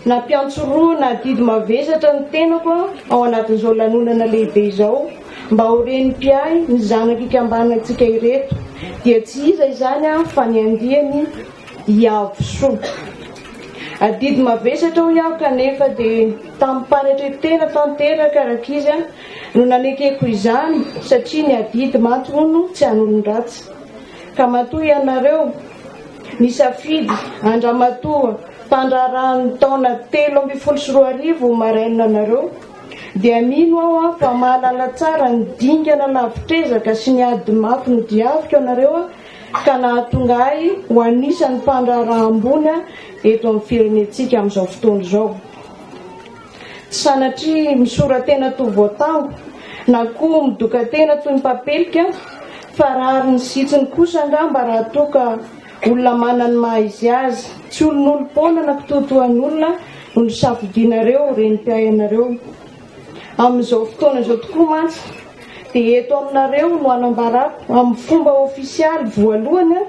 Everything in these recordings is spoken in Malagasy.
Nampiantsorohina adidy mavesatra ny tenako ao anatin'izao lanonana lehibe izao mba ho ren'ny mpiahy ny zanak'ikambanantsika ireto dia tsy iza izany fa ny andiany Iavosoa. Adidy mavesatra hoy aho kanefa dia tamim-panetre-tena tanteraka rankizy no nanekeko izany satria ny adidy mantsy hono tsy an'olon-dratsy ka matoa ianareo Nisafidy an-dramatoa mpandraharaha ny taona telo ambin'ny folo sy roa arivo maraina nareo dia mino aho an fa mahalala tsara ny dingana lavitr'ezaka sy ny ady mafy nodiaviko anareo an ka nahatonga ahy ho anisan'ny mpandraharaha ambony an eto amin'ny firenentsika amin'izao fotoana izao. Sanatria misora-tena toa voatango na koa midoka-tena toy ny mpapelika aho fa rariny sy hitsiny kosa angamba raha toa ka olona manana ny maha izy azy, tsy olonolom-poana na kitoatoan'olona no nosafidianareo renim-piainareo. Amin'izao fotoana izao tokoa mantsy dia eto aminareo no anambarako amin'ny fomba ofisialy voalohany aho,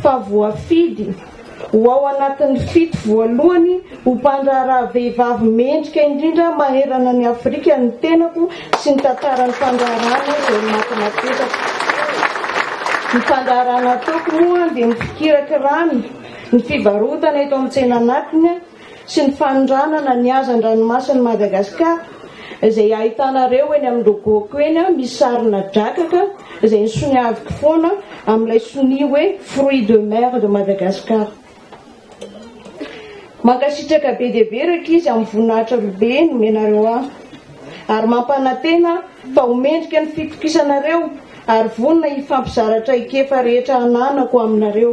fa voafidy ho ao anatin'ny fito voalohany ho mpandraharaha vehivavy mendrika indrindra maherana an'i Afrika ny tenako sy ny tantaran'ny fandraharahana izay ny maty napetraka. Ny fandraharahana ataoko moa dia ny fikirakirana ny fivarotana eto amin'ny tsena anatiny, sy ny fanondranana ny hazan-dranomasin'i Madagasikara izay ahitanareo eny amin'ny logo-ko eny misy sarina drakaka izay nisoniaviko foana amin'ilay sonia hoe fruits de mer de Madagascar. Mankasitraka be dia be rankizy amin'ny voninahitra robe nomenareo ahy ary mampanantena fa ho mendrika ny fitokisanareo ary vonona hifampizara traikefa rehetra ananako aminareo.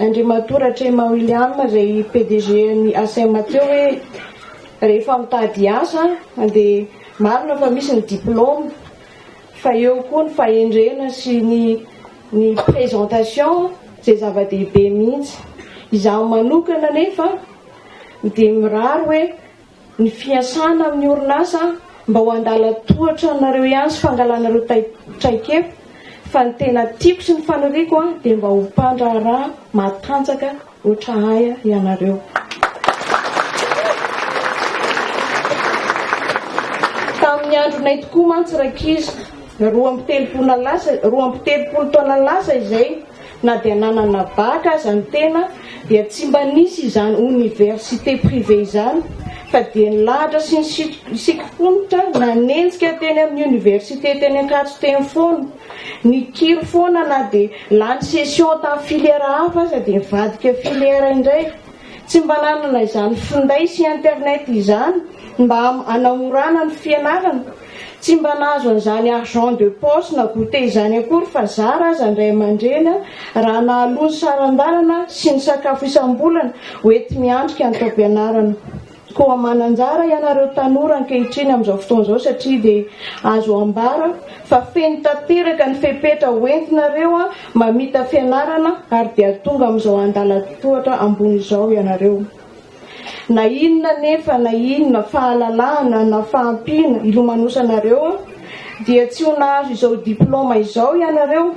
Andriamatoa Ratrema William izay PDG ny ASEM teo hoe rehefa mitady hiasa dia marina fa misy ny diplôme fa eo koa ny fahendrena sy ny ny présentation izay zava-dehibe mihitsy. Izaho manokana anefa dia mirary hoe ny fiasana amin'ny orinasa mba ho an-dalan-tohatra anareo ihany sy fangalanareo traikefa fa ny tena tiako sy ny faniriako dia mba ho mpandraharaha matanjaka ohatra ahy ianareo. Tamin'ny andronay tokoa mantsy rankizy, roa amby telopolo roa amby telopolo taona lasa izay, Na dia nanana bac aza ny tena dia tsy mba nisy izany université privée izany fa dia nilahatra sy nisikifonitra nanenjika teny amin'ny université teny Ankatso teny foana. Nikiry foana na dia lany session tamin'ny filière hafa aza dia nivadika filière indray. Tsy mba nanana izany finday sy internet izany mba hanamorana ny fianarana. Tsy mba nahazo an'izany argent de poche na goûter izany akory fa zara aza ny ray aman-dreny raha nahaloa ny saran-dalana sy ny sakafo isam-bolana ho enti-miatrika ny taom-pianarana. Koa manan-jara ianareo tanora ankehitriny amin'izao fotoana izao satria dia azo ambara fa feno tanteraka ny fepetra ho entinareo mamita fianarana ary dia tonga amin'izao andalan-tohatra ambony izao ianareo. Na inona anefa na inona fahalalahana na fahampiana ilomanosanareo dia tsy ho nahazo izao diploma izao ianareo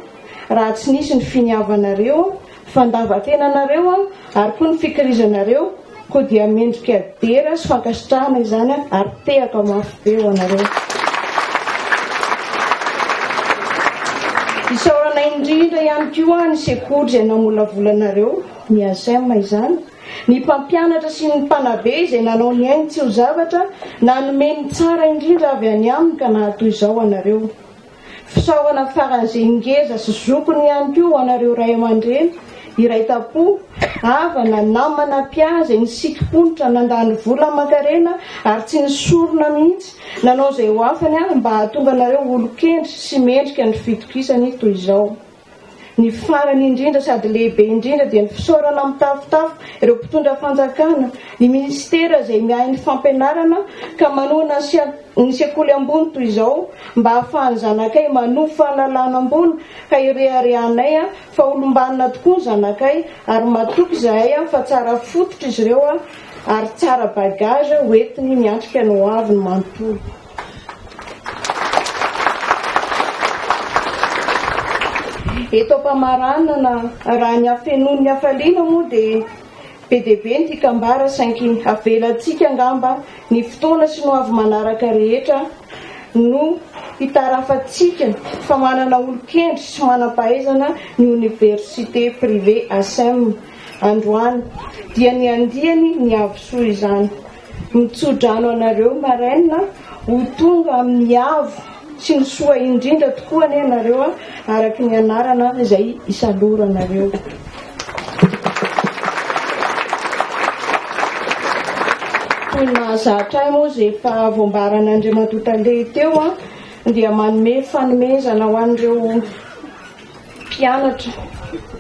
raha tsy nisy ny finiavanareo, fandavan-tenanareo ary koa ny fikirizanareo koa dia mendrika dera sy fankasitrahana izany ary tehaka mafy be ho anareo. Isaorana indrindra ihany koa ny sekoly izay namolavola anareo, ny ASEM izany, Ny mpampianatra sy ny mpanabe izay nanao ny ainy tsy ho zavatra, nanome ny tsara indrindra avy any aminy ka nahatoy izao anareo. Fisaorana faran'izay ngeza sy zokiny ihany koa ho anareo ray aman-dreny, iray tam-po, havana, namana, mpia izay nisikim-ponitra, nandany vola aman-karena ary tsy nisorona mihitsy, nanao izay ho afany ary mba hahatonga anareo olon-kendry sy mendrika ny fitokisany toy izao. Ny farany indrindra sady lehibe indrindra dia ny fisaorana mitafotafo ireo mpitondra fanjakana, ny minisitera izay miahy ny fampianarana ka manohana ny sekoly ambony toy izao mba hahafahan'ny zanakay manovo fahalalana ambony ka ireharehanay fa olombanona tokoa ny zanakay ary matoky izahay fa tsara fototra izy ireo ary tsara bagage hoentiny miatrika ny hoaviny manontolo. Eto am-pamaranana, raha ny hafenoan'ny hafaliana moa dia be dia be ny mpikambara saingy avelantsika angamba ny fotoana sy ny ho avy manaraka rehetra no hitarafantsika fa manana olon-kendry sy manam-pahaizana ny Oniversite Privée Asem. Androany dia ny andiany ny havosoa izany. Mitso-drano anareo maraina ho tonga amin'ny avo sy ny soa indrindra tokoa anie ianareo a, araka ny anarana izay isaloranareo. Toy ny mahazatra ahy moa izay efa voambaran'Andriamatoa Tale teo dia manome fanomezana ho an'ireo mpianatra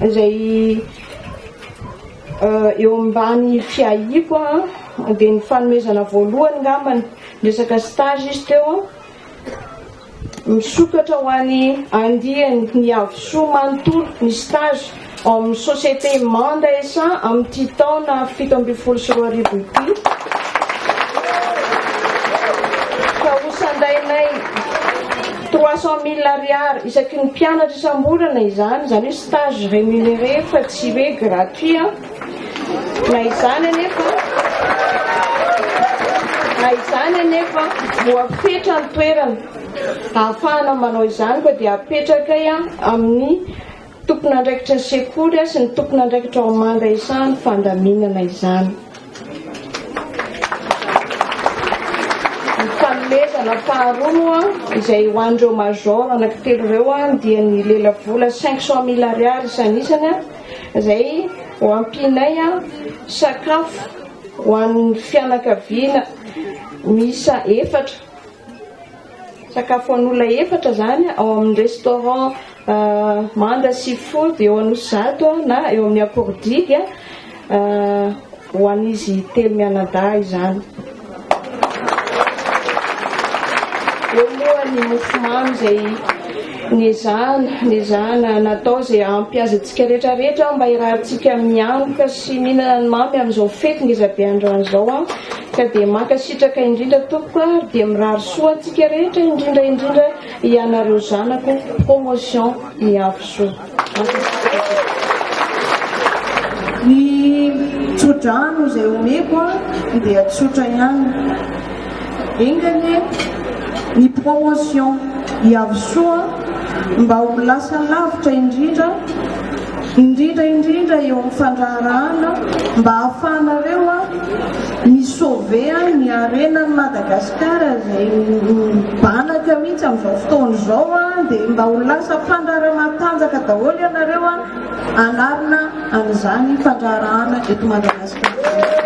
izay eo ambany fiahiako dia ny fanomezana voalohany ngambany resaka stage izy teo misokatra ho any andiany ny havosoa manontolo ny stage ao amin'ny société Manda SA amin'ity taona fito ambin'ny folo sy roa arivo ity ka hosandainay Trois cent mille ariary isaky ny mpianatra isam-bolana izany, izany hoe stage remunéré fa tsy hoe gratuit an! Na izany anefa, na izany anefa, voafetra ny toerana ahafahana manao izany koa dia apetraka amin'ny Tompon'andraikitry ny sekoly sy ny tompon'andraikitra ao amin'ny manda izany fandaminana izany. Ny fanomezana faharoa moa izay ho an'ireo major anankitelo ireo dia ny lelavola cinq cent mille ariary isan'isany izay ho ampianay sakafo ho an'ny fianakaviana miisa efatra. Sakafo an'olona efatra izany ao amin'ny restaurant Manda Seafood eo Anosizato na eo amin'ny Akordiga ho an'izy telo mianadahy izany. Eo moa ny mofomamy izay nezahana, nezahana natao izay hampy azy antsika rehetra rehetra mba hiarahantsika mianoka sy mihinana ny mamy amin'izao fety ngezabe androany izao. Ka dia mankasitraka indrindra tompoko a ary dia mirary soa antsika rehetra indrindra indrindra ianareo zanako promotion miavy soa mankasitraka tompoko. Ny tsodrano izay omeko a dia tsotra ihany. Enga anie ny promotion hiavy soa mba ho lasa lavitra indrindra. indrindra indrindra eo amin'ny fandraharahana mba hahafahanareo mi sauver ny harenan'i Madagascar izay mibanaka mihitsy amin'izao fotoana izao dia mba ho lasa mpandraharaha matanjaka daholo ianareo hanarina an'izany fandraharahana eto Madagascar izany.